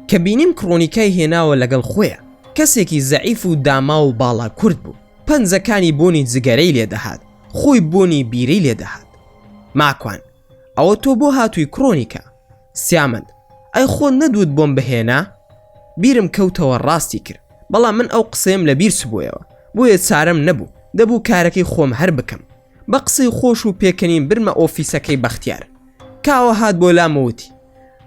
کە بینیم کڕۆنیکای هێناوە لەگەڵ خۆیە کەسێکی زەعیف و داما و باڵا کورت بوو پەنجەکانی بۆنی جگەرەی لێ دەهات خۆی بۆنی بیرەی لێ دەهات ماکوان ئەوە تۆ بۆ هاتووی کڕۆنیکە سیامەند ئەی خۆ نەدوت بۆم بهێنا بیرم کەوتەوە ڕاستی کرد بەڵام من ئەو قسەم لە بیر سبوویەوە بۆیە چارم نەبوو دەبوو کارەکەی خۆم هەر بکەم بە قسەی خۆش و پێکەنین برمە ئۆفیسەکەی بەختیار کاوە هات بۆ لامەوتی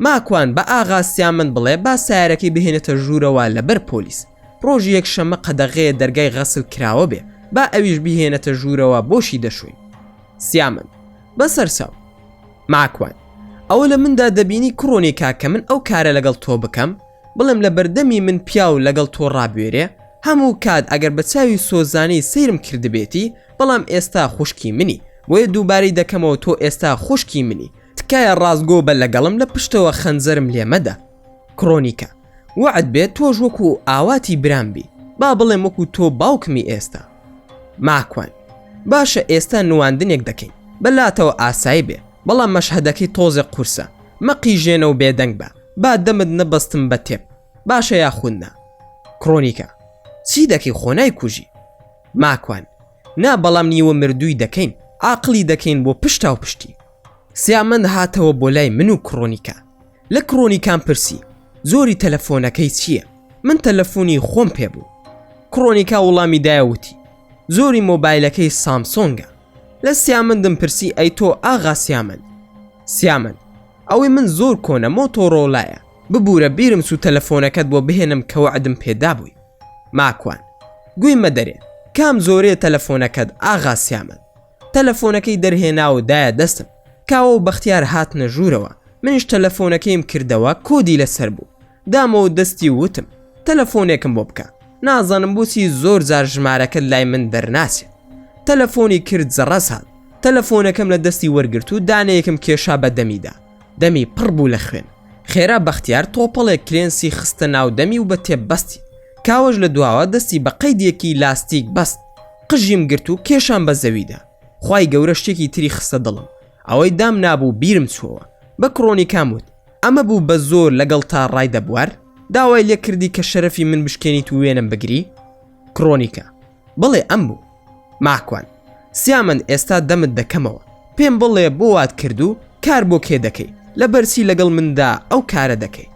ماکوان بە ئاغا سیامەند بڵێ با سیارەکەی بهێنێتە ژوورەوە لەبەر پۆلیس ڕۆژی یەک شەمە قەدەغەیە دەرگای غەسل کراوە بێ با ئەویش بهێنێتە ژوورەوە بۆشی دەشوین سیامەند بەسەرچاو ماکوان ئەوە لە مندا دەبینی کوڕۆنی کاکە من ئەو کارە لەگەڵ تۆ بکەم بڵێم لە بەردەمی من پیاو لەگەڵ تۆ ڕابێرێ هەموو کات ئەگەر بە چاوی سۆزانی سەیرم کردبێتی بەڵام ئێستا خوشکی منی بۆیە دووبارەی دەکەمەوە تۆ ئێستا خوشکی منی تکایە ڕاستگۆ بە لەگەڵم لە پشتەوە خەنجەرم لێمەدە کرۆنیکە وەعد بێت تۆش وەکو ئاواتی برام بی با بڵێم وەکو تۆ باوکمی ئێستا ماکوان باشە ئێستا نواندنێک دەکەین بەلاتەوە ئاسایی بێ بەڵام مەشهدەکەی تۆزێ قورسە مەقیژێنە و بێدەنگ بە با دەمت نەبەستم بە تێپ باشە یاخودنا کرۆنیکە چی دەکەی خۆنای کوژی ماکوان نا بەڵام نیوە مردووی دەکەین عقلی دەکەین بۆ پشتا و پشتی سیامەند هاتەوە بۆ لای من و کرۆنیکە لە کڕۆنیکام پرسی زۆری تەلەفۆنەکەی چییە من تەلەفۆنی خۆم پێ بوو کڕۆنیکا وڵامی دایوتی زۆری مۆبایلەکەی سامسۆنگە لە سیامندم پرسی ئەی تۆ ئاغا سیامند سیامند ئەوەی من زۆر کۆنە مۆتۆڕۆلایە ببوورە بیرم سو تەلەفۆنەکەت بۆ بهێنم کە وەعدم پێدابووی ماکوان گوی مەدەرێ کام زۆرێ تەلەفۆنەکەت ئاغا سیامند تەلەفۆنەکەی دەرهێنا و دایە دەستم. کاوە و بەختیار هاتنە ژوورەوە، منیش تەلەفۆنەکەیم کردەوە کۆدی لەسەر بوو. دامەوە و دەستی و وتم، تەلەفۆنێکم بۆ بکە. نازانم بۆچی زۆر جار ژمارەکەت لای من دەرناچێت. تەلەفۆنی کرد زەڕەس هات. تەلەفۆنەکەم لە دەستی وەرگرت و دانەیەکم کێشا بە دەمیدا. دەمی پڕ بوو لە خوێن. خێرا بەختیار تۆپەڵێک کرێنسی خستە ناو دەمی و بە تێپ بەستی. کاوەش لە دواوە دەستی بە قەیدێکی لاستیک بەست. قژیم گرت و کێشان بە زەویدا خی گەورە شتێکی تری خستە دڵم ئەوەی دام نابوو بیرم چۆوە بە کڕۆنی کام وت ئەمە بوو بە زۆر لەگەڵ تا ڕای دەبوار داوای لێ کردی کە شەرەفی من بشکێنیت و وێنم بگری کڕۆنیکە بڵێ ئەم بوو ماکوان سیامەند ئێستا دەمت دەکەمەوە پێم بڵێ بۆ وات کرد و کار بۆ کێ دەکەی لە بەرچی لەگەڵ مندا ئەو کارە دەکەی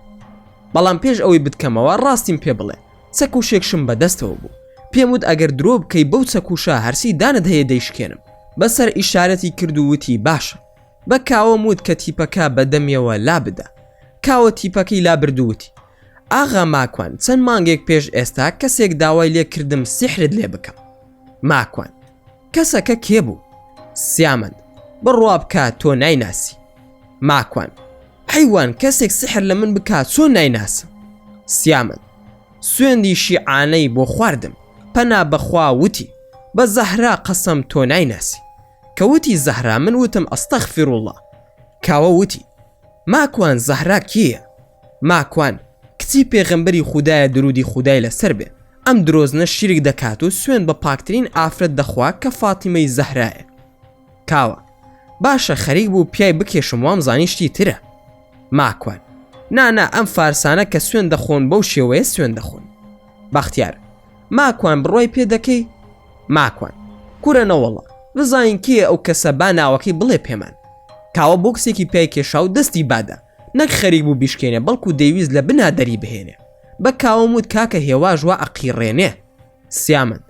بەڵام پێش ئەوەی بتکەمەوە ڕاستیم پێ بڵێ چەک و شێکشم بە دەستەوە بوو پێم وت ئەگەر درۆ بکەی بەو چەک و شا هەرچی دانت هەیە دەیشکێنم بە سەر ئیشارەتی کرد و وتی باشە بە کاوەم وت کە تیپەکە بە دەمیەوە لا بدە کاوە تیپەکەی لا برد و وتی ئاغا ماکوان چەند مانگێک پێش ئێستا کەسێک داوای لێ کردم سیحرت لێ بکەم ماکوان کەسەکە کێ بوو؟ سیامەند بڕوا بکە تۆ نایناسی ماکوان حیوان کەسێک سحر لە من بکات چۆن نایناسم سیامەند سوێندی شیعانەی بۆ خواردم پەنا بەخوا وتی بە زەهرا قەسەم تۆ نایناسی کەوتی زەهرا من وتم ئەستەخ فیرروڵە کاوە وتی ماکوان زەهرا کیە ماکوان کچی پێغەمبەری خودایە درودی خودای لەسەر بێ ئەم درۆزنە شیرک دەکات و سوێن بە پاکترین ئافرەت دەخوا کە فاتیمەی زەهرایە کاوە باشە خەریک بوو پیای بکێشم وام زانی شتی ترە ماکوان نا نا ئەم فارسانە کە سوێن دەخۆن بەو شێوەیە سوێن دەخۆن بەختیار ماکوان بڕوای پێ دەکەی ماکوان کورە نەوەڵا بزانین کێ ئەو کەسە با ناوەکەی بڵێ پێمان کاوە بۆکسێکی پیای کێشا و دەستی بادا نەک خەریک بوو بیشکێنێ بەڵکو دەیویست لە بنا دەری بهێنێ بە کاوەم وت کاکە هێواش وا ئەقیڕێنێ سیامەند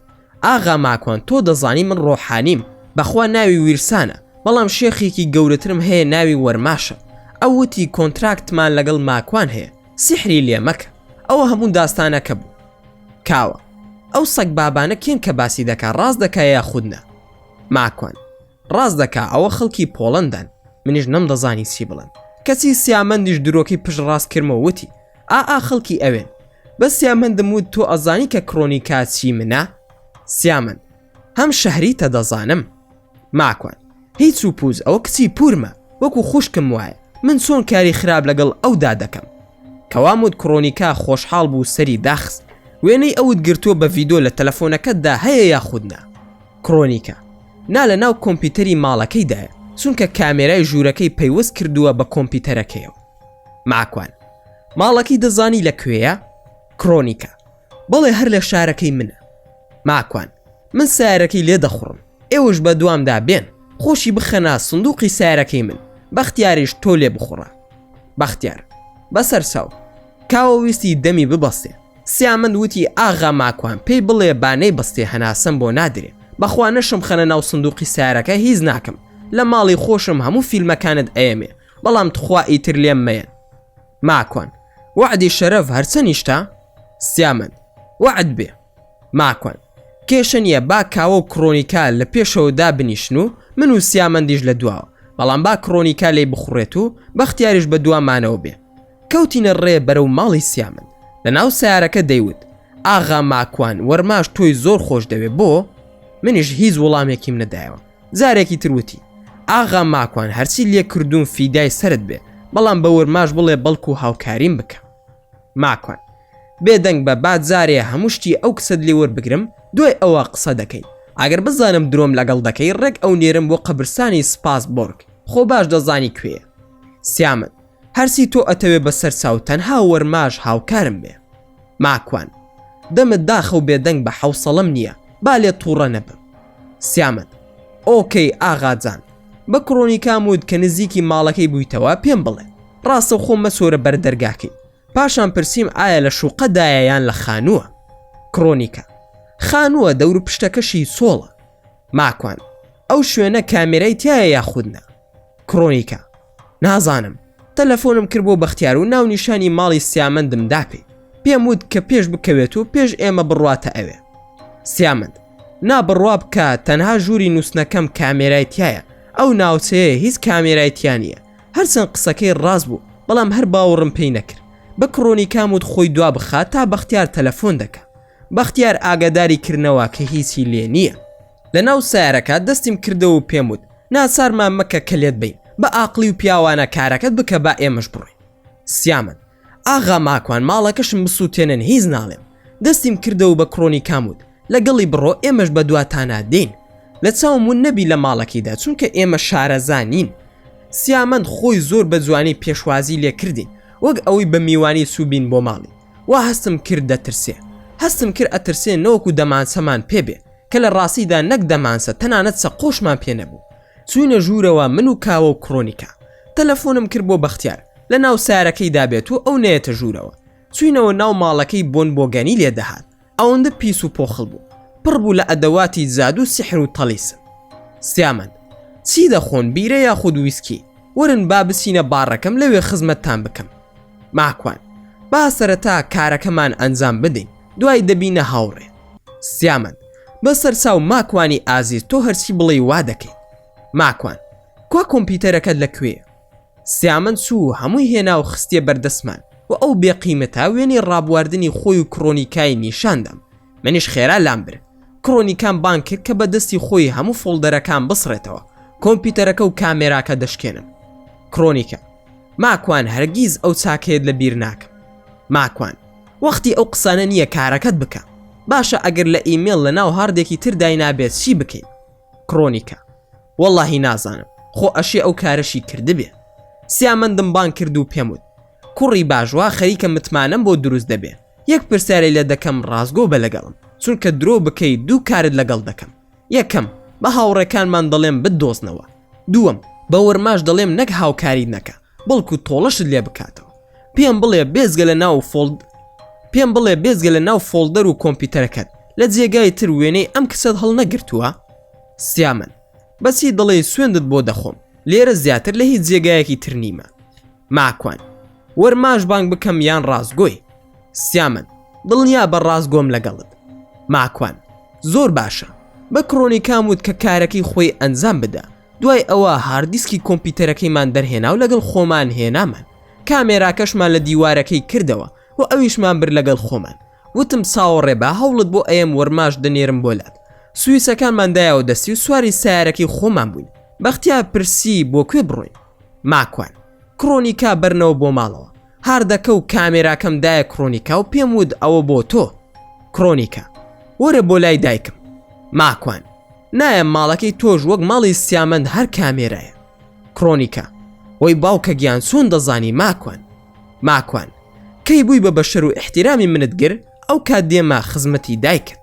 ئاغا ماکوان تۆ دەزانی من ڕۆحانیم بەخوا ناوی ویرسانە بەڵام شێخێکی گەورەترم هەیە ناوی وەرماشە ئەو وتی کۆنتراکتمان لەگەڵ ماکوان هەیە سیحری لێ مەکە ئەوە هەموو داستانەکە بوو کاوە ئەو سەگبابانە کێن کە باسی دەکا ڕاست دەکا یاخود نا ماکوان ڕاست دەکا ئەوە خەڵکی پۆڵەندان منیش نەمدەزانی چی بڵێم کەچی سیامەندیش درۆکەی پشت ڕاست کرمەوە وتی ئائا خەڵکی ئەوێن بە سیامەندم وت تۆ ئەزانی کە کڕۆنیکا چی منە سیامەند هەم شەهریتە دەزانم ماکوان هیچ و پووز ئەوە کچی پورمە وەکو خوشکم وایە من چۆن کاری خراپ لەگەڵ ئەودا دەکەم کەوام وت کڕۆنیکا خۆشحاڵ بوو سەری داخست وێنەی ئەوت گرتووە بە ڤیدۆ لە تەلەفۆنەکەتدا هەیە یاخود نا؟ کرۆنیکە نا لە ناو کۆمپیوتەری ماڵەکەی دایە چونکە کامێرای ژوورەکەی پەیوەست کردووە بە کۆمپیوتەرەکەیەوە ماکوان ماڵەکەی دەزانی لە کوێیە کرۆنیکە بەڵێ هەر لە شارەکەی منە ماکوان من سارەکەی لێ دەخوڕم ئێوەش بە دوامدا بێن خۆشی بخەنا سندوقی سارەکەی من بەختیاریش تۆ لێ بخوڕە بەختیار بەسەر چاو کاوە ویستی دەمی ببەستێ سیامەند وتی ئاغا ماکوان پێی بڵێ با نەیبستێ هەناسەم بۆ نادرێ بەخوا نەشمخەنە ناو سندوقی سارەکە هیچ ناکەم لە ماڵی خۆشم هەموو فیلمەکانت ئەیەمێ بەڵام تخوا ئیتر لێم مەیەن ماکوان وەعدی شەرەف هەرچەنیشتە سیامەند وەعد بێ ماکوان کێشە نیە با کاوە و کڕۆنیکا لە پێشەوە دابنیشن و من و سیامەندیش لە دواوە بەڵام با کڕۆنیکا لێی بخوڕێت و بەختیاریش بە دوامانەوە بێ کەوتینە ڕێ بەرەو ماڵی سیامەند لەناو سیارەکە دەیوت ئاغا ماکوان وەرماش تۆی زۆر خۆش دەوێ بۆ؟ منیش هیچ وڵامێکیم نەدایەوە جارێکی تروتی ئاغا ماکوان هەرچی لێ کردوون فیدای سرد بێ بەڵام بە وەرماش بڵێ بەڵکو و هاوکاریم بکە ماکوان بێدەنگ بە با جارێ هەموو شتی ئەو کچەت لێ وەربگرم دوای ئەوە قسە دەکەی ئەگەر بزانم درۆم لەگەڵ دەکەی ڕێک ئەو نێرم بۆ قەبرسانی سپاس بۆرگ خۆ باش دەزانی کوێە سیامەند هەرچی تۆ ئەتەوێ بەسەر چاو تەنها وەرماژ هاوکارم بێ ماکوان دەمت داخە و بێدەنگ بە حەوسەڵەم نییە با لێت توڕە نەبم سیامەند ئۆکەی ئاغا جان بە کڕۆنیکام وت کە نزیکی ماڵەکەی بوویتەوە پێم بڵێ ڕاستەوخۆ مەچۆرە بەر دەرگاکەی پاشان پرسیم ئایا لە شوقەدایە یان لە خانووە کڕۆنیکە خانووە دەوروپشتەکەشی سۆڵە ماکوان ئەو شوێنە کامێرای تایە یاخودنا کڕۆنیکە نازانم تەلەفۆنم کرد بۆ بەختیار و ناونیشانی ماڵی سیامەندم داپی پێم وت کە پێش بکەوێت و پێش ئێمە بڕواتە ئەوێ سیامەند نابڕوا بکە تەنها ژووری نووسنەکەم کامێرایتیایە ئەو ناوچەیە هیچ کامێرایتیانە هەرچەند قسەکەی ڕاست بوو بەڵام هەر باوەڕم پێی نەکرد بە کڕۆنی کاموت خۆی دوا بخات تا بەختیار تەلەفۆن دەکە بەختیار ئاگاداری کردنەوە کە هیچی لێ نییە لە ناو سەیارەکە دەستیم کردەوە و پێم وت، ناچارمان مەکە کە لێت بەین، بە ئاقڵی و پیاوانە کارەکەت بکە با ئێمەش بڕۆین. سیامەند، ئاغا ماکوان ماڵەکەشم بسووتێنن هیچ ناڵێم. دەستیم کردەوە و بە کڕۆنیکام وت، لەگەڵی بڕۆ ئێمەش بە دواتانا دێین. لە چاوم ون نەبی لە ماڵەکەیدا چونکە ئێمە شارەزا نین. سیامەند خۆی زۆر بە جوانی پێشوازی لێ کردین وەک ئەوەی بە میوانی چووبین بۆ ماڵی. وا هەستم کرد دەترسێ. هەستم کرد ئەترسێ نەوەکو دەمانچەمان پێ بێ. کە لە ڕاستیدا نەک دەمانسە تەنانەت سەقۆشمان پێ نەبوو چوینە ژوورەوە من و کاوە و کڕۆنیکا تەلەفۆنم کرد بۆ بەختیار لە ناو سارەکەی دابێت و ئەو نەیەتە ژوورەوە چوینەوە ناو ماڵەکەی بۆن بۆگەنی لێ دەهات ئەوەندە پیس و پۆخڵ بوو پڕ بوو لە ئەدەواتی زادو سحر و تەڵیسم سیامەند چی دەخۆن بیرە یاخود ویسکی ورن با بچینە باڕەکەم لەوێ خزمەتتان بکەم ماکوان با سەرەتا کارەکەمان ئەنجام بدەین دوای دەبینە هاوڕێ سیامەند بە سەرچاو ماکوانی ئازیز تۆ هەرچی بڵێی وا دەکەین ماکوان کوا کۆمپیوتەرەکەت لە کوێ سیامەند چوو هەمووی هێنا و خستیە بەردەستمان و ئەو بێقیمەتە وێنەی ڕابواردنی خۆی و کڕۆنیکای نیشاندام منیش خێرا لام برد کڕۆنیکان بانک کرد کە بە دەستی خۆی هەموو فۆڵدەرەکان بسڕێتەوە کۆمپیوتەرەکە و کامێراکە دەشکێنم کڕۆنیکە ماکوان هەرگیز ئەو چاکەیەت لە بیر ناکەم ماکوان وەختی ئەو قسانە نییە کارەکەت بکە باشە ئەگەر لە ئیمێڵ لە ناو هاڕدێکی تر داینابێت چی بکەین کڕۆنیکە واللهی نازانم خۆ ئەشێ ئەو کارەشی کردبێ سیامەندم بان کرد و پێم وت کوڕی باشوا خەریکە متمانەم بۆ دروست دەبێ یەک پرسیارەی لە دەکەم ڕاستگۆ بە لەگەڵم چونکە درۆ بکەی دوو کارت لەگەڵ دەکەم یەکەم، بە هاوڕێکانمان دەڵێم بتدۆزنەوە. دووەم، بە ورماش دەڵێم نەک هاوکاریت نەکا، بەڵکو تۆڵەشت لێ بکاتەوە. پێم بڵێ بێجگە لە ناو و فۆڵد پێم بڵێ بێجگە لە ناو فۆڵدەر و کۆمپیوتەرەکەت، لە جێگای تر وێنەی ئەم کچەت هەڵنەگرتووە؟ سیامەند، بەچی دەڵێی سوێندت بۆ دەخۆم، لێرە زیاتر لە هیچ جێگایەکی تر نیمە. ماکوان، ورماش بانگ بکەم یان ڕاستگۆی؟ سیامەند، دڵنیابە ڕاستگۆم لەگەڵت. ماکوان، زۆر باشە. بە کڕۆنیکام وت کە کارەکەی خۆی ئەنجام بدا. دوای ئەوە هارددیسکی کۆمپیوتەرەکەیمان دەرهێنا و لەگەڵ خۆمان هێنامان. کامێراکەشمان لە دیوارەکەی کردەوە و ئەویشمان برد لەگەڵ خۆمان. وتم چاوەڕێبە هەوڵت بۆ ئەیەم وەرماش دەنێرم بۆ لات. سویچەکانمان دایەوە دەستی و سواری سەیارەکەی خۆمان بووین. بەختیار پرسی بۆ کوێ بڕۆین؟ ماکوان، کڕۆنیکا بەرنەوە بۆ ماڵەوە. هاردەکە و کامێراکەم دایە کڕۆنیکا و پێم وت ئەوە بۆ تۆ کڕۆنیکا وەرە بۆ لای دایکم ماکوان نایە ماڵەکەی تۆش وەک ماڵی سیامەند هەر کامێرایە کڕۆنیکا وەی باوکە گیان چۆن دەزانی ماکوان ماکوان کەی بووی بە بەشەر و احتیرامی منت گر ئەو کات دێمە خزمەتی دایکت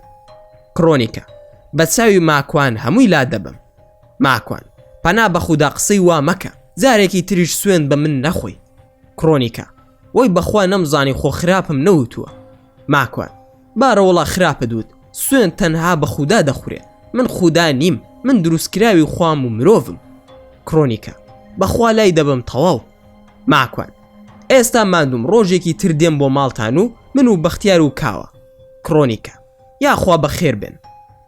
کڕۆنیکە بە چاوی ماکوان هەمووی لا دەبم ماکوان پەنا بە خودا قسەی وا مەکە جارێکی تریش سوێن بە من نەخۆی کڕۆنیکە وەی بەخوا نەمزانی خۆ خراپم نەوتووە ماکوان بارە وەڵا خراپت وت سوێن تەنها بە خودا دەخورێ من خودا نیم من دروستکراوی خوام و مرۆڤم کڕۆنیکە بەخوا لای دەبم تەواو ماکوان ئێستا مادوم ڕۆژێکی تر دێم بۆ ماڵتان و من و بەختیار و کاوە کڕۆنیکە یاخوا بەخێر بن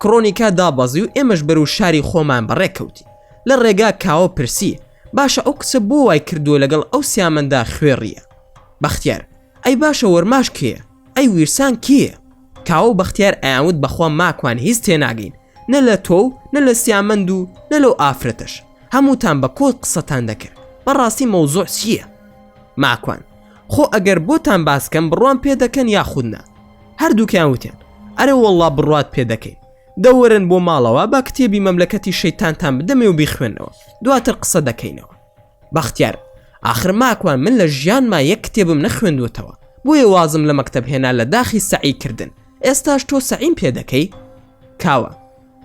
کڕۆنیکە دابەزی و ئێمەش بەرو شاری خۆمان بەڕێکەوتی لە ڕێگا کاوە پرسی باشە ئەو کچە بۆ وای کردووە لەگەڵ ئەو سیامەندا خوێڕیە بەختیار ئەی باشە وەرماش کێە ئەی ویرسان کێە کاوە و بەختیار ئەیانوت بەخوا ماکوان هیچ تێناگەین نە لە تۆ و نە لە سیامەند و نە لەو ئافرەتەش هەمووتان بە کۆت قسەتان دەکرد بەڕاستی مەوزۆع چییە ماکوان خۆ ئەگەر بۆتان باسکەم بڕوان پێ دەکەن یاخودنا هەردووکیان وتێن ئەرە وەڵا بڕات پێ دەکەین دە وەرن بۆ ماڵەوە با کتێبی مەملەکەتی شەیتانتان بدەمێ و بیخوێنەوە دواتر قسە دەکەینەوە بەختیار آخر ماکوان من لە ژیان ما یەک کتێبم نەخوێندوەتەوە بۆیە وازم لە مەکتب هێنا لە داخی سەعی کردن ئێستاش تۆ سەعیم پێ دەکەی کاوە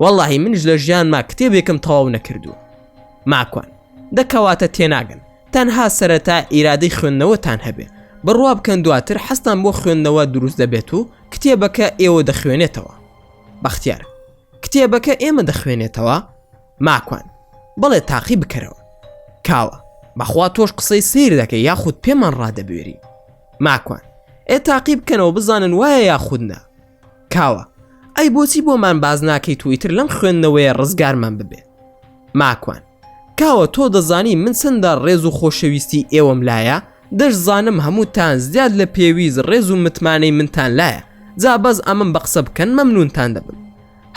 واللهی منش لە ژیان ما کتێبێکم تەواو نەکردووە ماکوان دەکەواتە تێناگەن تەنها سەرەتا ئیرادەی خوێندنەوەتان هەبێ بڕوا بکەن دواتر حەستان بۆ خوێندنەوە دروست دەبێت و کتێبەکە ئێوە دەخوێنێتەوە بەختیار، کتێبەکە ئێمە دەخوێنێتەوە؟ ماکوان، بەڵێ تاقی بکەرەوە. کاوە، بەخوا تۆش قسەی سەیر دەکەی یاخود پێمان ڕادەبوێری. ماکوان، ئێ تاقی بکەنەوە بزانن وایە یاخود نا. کاوە، ئەی بۆچی بۆمان باس ناکەیت و ئیتر لەم خوێندنەوەیە ڕزگارمان ببێ؟ ماکوان کاوە تۆ دەزانی من چەندە ڕێز و خۆشەویستی ئێوەم لایە دەشزانم هەمووتان زیاد لە پێویست ڕێز و متمانەی منتان لایە جا بەس ئەمەم بە قسە بکەن مەمنونتان دەبم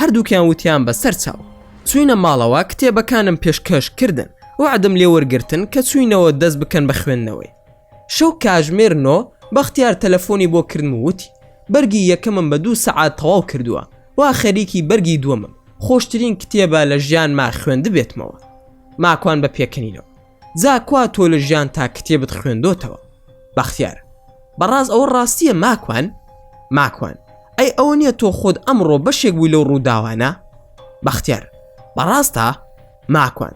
هەردووکیان وتیان بە سەر چاو چوینە ماڵەوە کتێبەکانم پێشکەش کردن وعدم لێ وەرگتن کە چوینەوە دەست بکەن بە خوێندنەوەی شەو کاژمێر نۆ بەختیار تەلەفۆنی بۆ کردم و وتی بەرگی یەکەمم بە دوو سەعات تەواو کردووە وا خەریکی بەرگی دووەمم خۆشترین کتێبە لە ژیانما خوێندبێتمەوە ماکوان بە پێکەنینەوە جا کوا تۆ لە ژیان تا کتێبت خوێندۆتەوە بەختیار بەڕاز ئەوە ڕاستیە ماکوان ماکوان ئەی ئەوە نییە تۆ خۆت ئەمڕۆ بەشێک بووی لەو ڕووداوانە بەختیار بەڕاستە ماکوان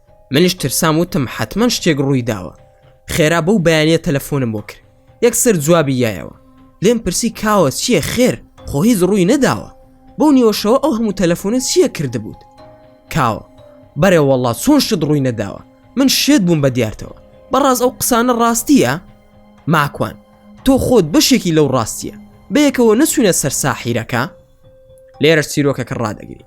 منیش ترسام وتم حەتمەن شتێک ڕووی داوە خێرا بەو بەیانە تەلەفۆنم بۆ کرد یەکسەر جوابی یایەوە لێم پرسی کاوە چییە خێر خۆ هیچ ڕووی نەداوە بەو نیوەشەوە ئەو هەموو تەلەفۆنە چییە کردبووت کاوە بەرێ وەڵا چۆن شت ڕووی نەداوە من شێت بووم بە دیارتەوە بەڕاز ئەو قسانە ڕاستیە ماکوان تۆ خۆت بەشێکی لەو ڕاستیە بەیەکەوە نەچوینە سەر ساحیرەکە لێرە چیرۆکەکە ڕدەگری